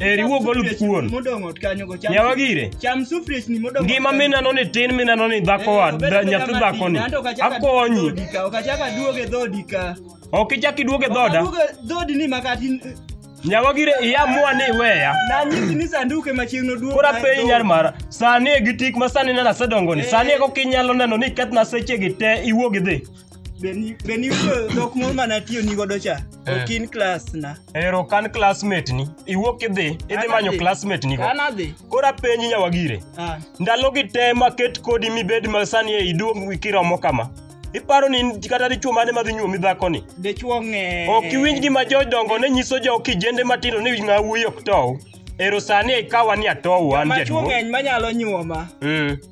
Eri wuog olup kuon. Modong' ot kanyo go cham. Yawa gire. Cham sufriechni modong'. Ngima ot kanyo. minano ni tin minano ni dhako Eh, wa obed da- abeda nyathi matin, dhako ni. anto ok achak aduog e Akonyi. dhoodi ka, ok achak aduog e dhoodi ka. Ok ichak iduog e Ok dhoda. aduog e dhoodi ni makati Nyawa gire iamua ni iweya. nanyisi ni sanduku ema chieng' noduog Kora na e piny dhoodi. nyar mara. Sani e gi tik ma sani nena asedongo ni. Eh. Sani e kokinyalo neno ni ikethna sechegi te iwuog idhi. beni dhok moro mana tiyo ni godo cha eh. ok in klas na ero kan classmate ni iwuok idhi idhi manyo classmate ni go koro apenji nyawagire ah. ndalo gi te maket kodi mibed ma sani e iduog kiromo kama iparo ni kata dichuo mane madhi nyuomi dhakoni dichuo ng'e ok iwinj gima jodongo ne nyiso jo kijende matindo ni ng'a wuoyi ok tow ero sani ikawa ni atow an jaduong' ng'eny manyalo nyuoma mm.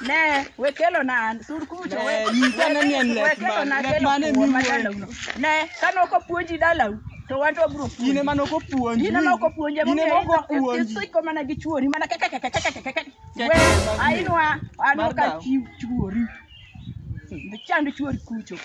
Ne, we kelo na sur kucho. Ne, we- nyisa we- ni en lek we kelo man- na lek kelo man e kuon ma miwuoye. dalau no. Ne, kane ok opuonji dalau, to wan to wabiro puonji. in ema nokopuonji In ema ok opuonji, in emomiyo ema ok idho- opuonji isiko mana gi chuori, mana keke, keke, keke, keke, keke. Keke, We, mag- ainwa, anwa mag ka dalau. chi- chuori. Chand chuori kucho.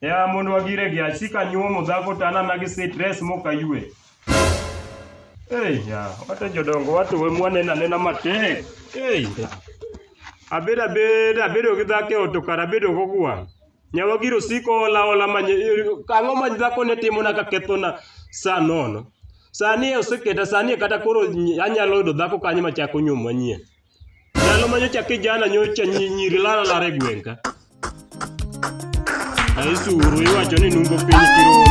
Ya mondo wagire gi achi ka nyuomo dhako to anana gi stress mok ayue. Ei, ya, wate jodongo wate we mwanena nena matek. Ei. Abedo abedo abedo gi dhako e ot to kara abedo go gwang'. Nyawa giro siko ola ola manye ang'o ma dhako ne timo na ka kethona saa nono. Sani oseketa sani kata koro anyalo yudo dhako kanyo machako nyuomo manyien. Ndalo ma nyocha kijana nyocha nyi- nyiri lala lala e gweng' ka. Aisuru iwacho ni nungo piny kirom.